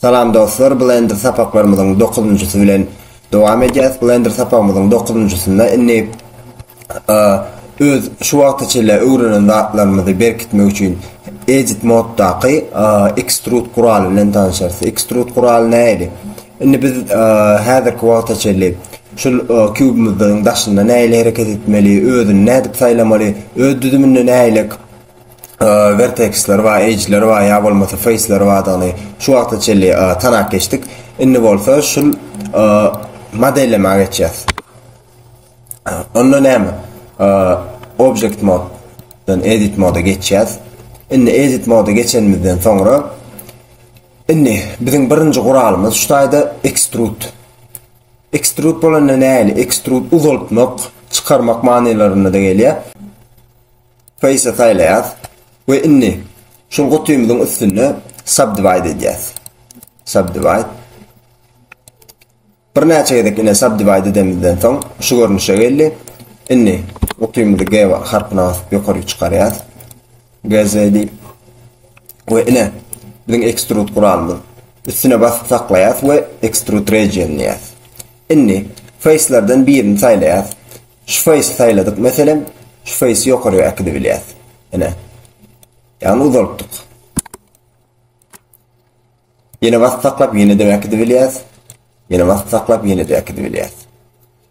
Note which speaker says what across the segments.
Speaker 1: Salam dostlar Blender sapaklarymyzyň dokuzynjysy bilen dowam edýäs Blender sapagymyzyň dokuzynjysynda indi öz şu wagta çenli öwrenen zatlarymyzy berkitmek üçin edit moddaky extrude guraly bilen tanyşarys extrude guraly nähili indi biz häzirki wagta çenli şul kubymyzdyň daşynda nähili hereket etmeli özüni nädip saýlamaly öz düzüminde nähili Verteksler bar, edgeler bar ýa bolmasa faceler bardygyny şu wagta çenli tanap geçdik. Indi bolsa şul modellemäge geçýäs. Onda näme? Object mode-dan edit mode geçýäs. Indi edit mode geçenimizden soňra indi biziň birinji guralymyz şu taýda extrude. Extrude bolanda näli? Extrude uzaltmak, çykarmak manylarynda gelýär. Face-e saýlaýas we indi şul gutymyzyň üstünde Subdivide edýäs. Subdivide. Birnäçe gezek ine Subdivide edemizden soň şu görnüşe geldi. Indi gutymyzy G harpyna basyp ýokarly çykarýas. GZ diýip. We ine biziň Extrude guralymyz. Üstüne basyp saklaýas we Extrude Region diýýäs. Indi Face-lerden birini saýlaýas. Şuface saýladyk meselem, şuface ýokaryk äkidibilýäs. Ine. Ýagny uzaltdyk. Ýene basyp saklap ýene-de äkidibilýäs. Ýene basyp saklap ýene-de äkidibilýäs.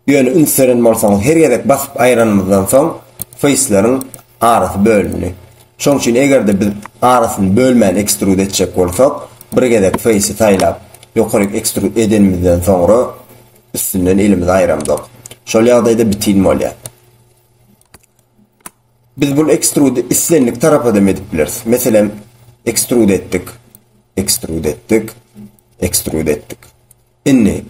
Speaker 1: Ýöne üns beren bolsaňyz her gezek basyp aýranymyzdan soň faceleriň arasy bölündi. Şoň üçin eger-de biz arasyny bölmän ekstrud etjek bolsak, bir gezek face-i saýlap ýokaryk ekstrud edenimizden soňra Üstünden elimizi aýramzok. Şol ýagdaýda bitin bolýar. Biz bul ekstrudy islendik tarapa dem edip bileris. Meselem, ekstrud etdik. Ekstrud etdik. Ekstrud etdik. Indi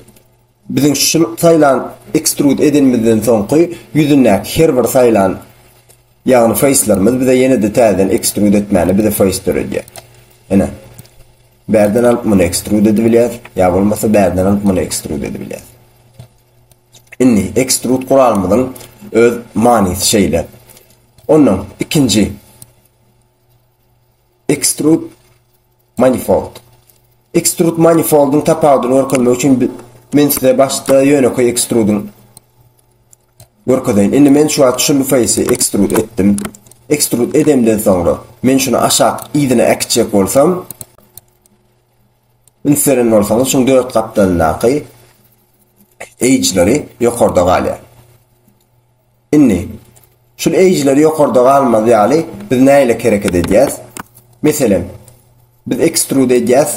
Speaker 1: biziň şu saýlan ekstrud edenimizden soňky ýüzündäki her bir saýlan ýagny feýslerimiz bize ýene-de täzeden ekstrud etmäne bize feýs döredýär. Ene. Bärden alyp muny ekstrud edip bilýäs, ýa bolmasa bärden alyp muny ekstrud edip bilýäs. Indi ekstrud guralymyzyň öz manysy şeýle. Ondan ikinji ekstrud manifold. Ekstrud manifoldyň tapawudyny görkezmek üçin men size başda ýönekeý ekstrudyň Görkezeýin. Indi men şu wagt şul feýsi ekstrud etdim. Ekstrud edemden soňra, men şuny aşak yzyna äkitjek bolsam, üns beren bolsaňyz, şuň dört gapdalyndaky edge-leri ýokarda galýar. Indi, şul edge-leri ýokarda galmaz ýaly, biz nähili hereket edýäs? Meselem, biz ekstrud edýäs,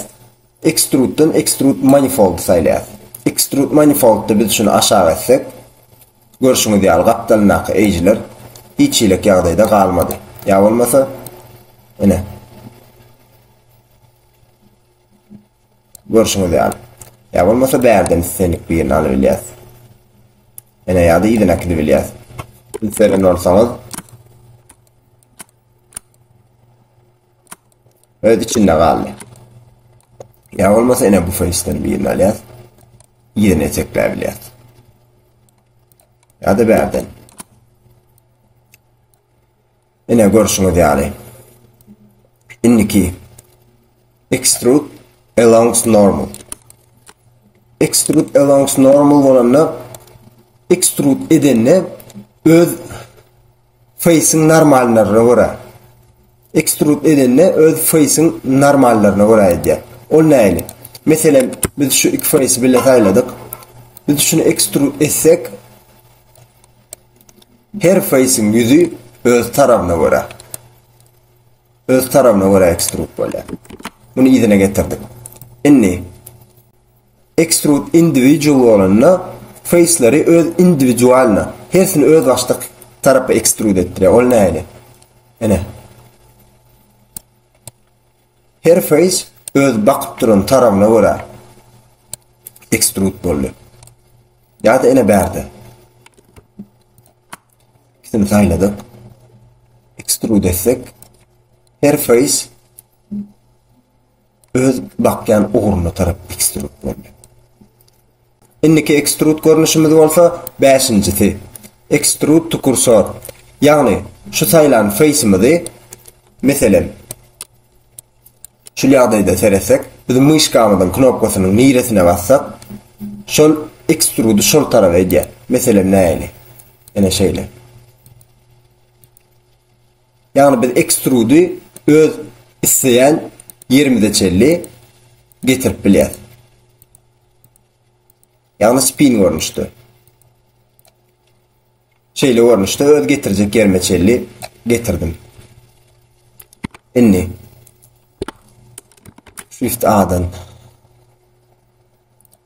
Speaker 1: Extrude-dan Extrude Manifold-y saýlaýas. Extrude Manifold-da biz şuny aşak etsek, görşüňiz ýaly, gapdalyndaky eýjiler hiç hilek ýagdaýda galmady. Ýa bolmasa, ine, görşüňiz ýaly. Ýa bolmasa, bärden islendik birini alybilýäs. Ine, ýa-da yzyny äkidibilýäs. Biz seren bolsaňyz. Öz içinde galdy. Ýa bolmasa ene bu feýsden birini alýas. Ýene etekläp bilýäs. Ýa-da bärden. Ene görşüňiz ýaly. Indiki extrude along normal. Extrude along normal bolanda extrude edende öz Feýsiň normallaryna görä. Ekstrud edende öz feýsiň normallaryna görä edýär. Ol näili? Meselem, biz şu iki feýsi bile saýladyk. Biz şuny ekstrud etsek, her feýsiň ýüzi öz tarabyna görä. Öz tarabyna görä ekstrud bolýar. Muny yzyna getirdik. Indi Extrude individual bolanda feýsleri öz indiwidualno, hersini özbaşdak tarapa extrude etdirýär. Ol nähili? Ine. Her feýs öz bakyp duran tarabyna görä extrude boldy. Ýa-da ine bärde. Ikisini saýladyk. Extrude etsek, her feýs öz bakýan ugruna tarap ekstrud boldy. Indiki ekstrud görnüşimiz bolsa bäşinjisi, ekstrud to kursor. Ýagny, şu saýlan feýsimizi, meselem, şul ýagdaýda seretsek, biz myşkamyzyň knopkasynyň niresine bassak, şol ekstrudy şol tarap edýär. Meselem, nähili? Ine şeýle. Ýagny biz ekstrudy öz isleýän ýerimize çenli getirip bilýäs. Ýagny spin görnüşde. Şeýle görnüşde öz getirjek ýerime çenli getirdim. Indi Shift A-dan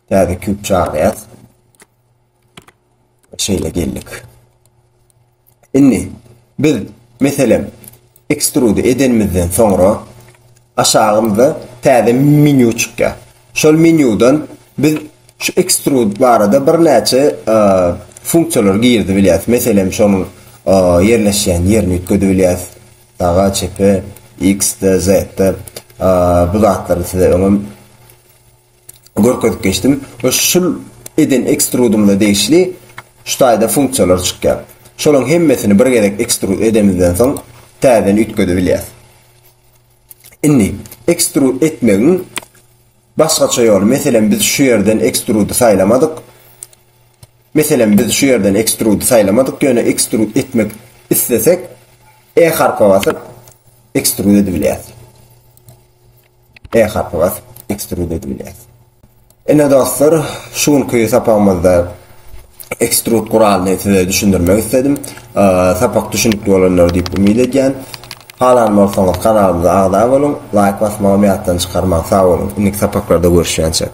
Speaker 1: täze küp çagyrýas. Şeýle geldik. Indi biz meselem ekstrudy edenimizden soňra aşagymyzda täze menýu çykýar. Şol menýudan biz şu ekstrud barada birnäçe e, funksiýalar girdi bilýäs. Meselem şonuň e, ýerleşýän ýerini üýtgedi bilýäs. Saga, çepe, X-de, Z-de e, bu zatlary size öňem görkezip geçdim we şul eden ekstrudymyza degişli şu taýda funksiýalar çykýar. Şolaryň hemmesini bir gezek ekstrud edemizden soň täzeden üýtgedebilýäs. Indi ekstrud etmegiň başgaça ýoly, meselem biz şu ýerden ekstrudy saýlamadyk, meselem biz şu ýerden ekstrudy saýlamadyk ýöne ekstrud etmek islesek E harpa basyp ekstrud edibilýäs. E harpy basyp ekstrud edip bilýäs. Ine dostlar, şu günki sapagymyzda ekstrud guralyny size düşündirmek isledim. Sapak düşünikli bolandyr diýip umyt edýän. Halan bolsaňyz kanalymyza agza boluň, laýk basmagam ýatdan çykarmaň. Sag boluň, indiki sapaklarda görüşýänçäk.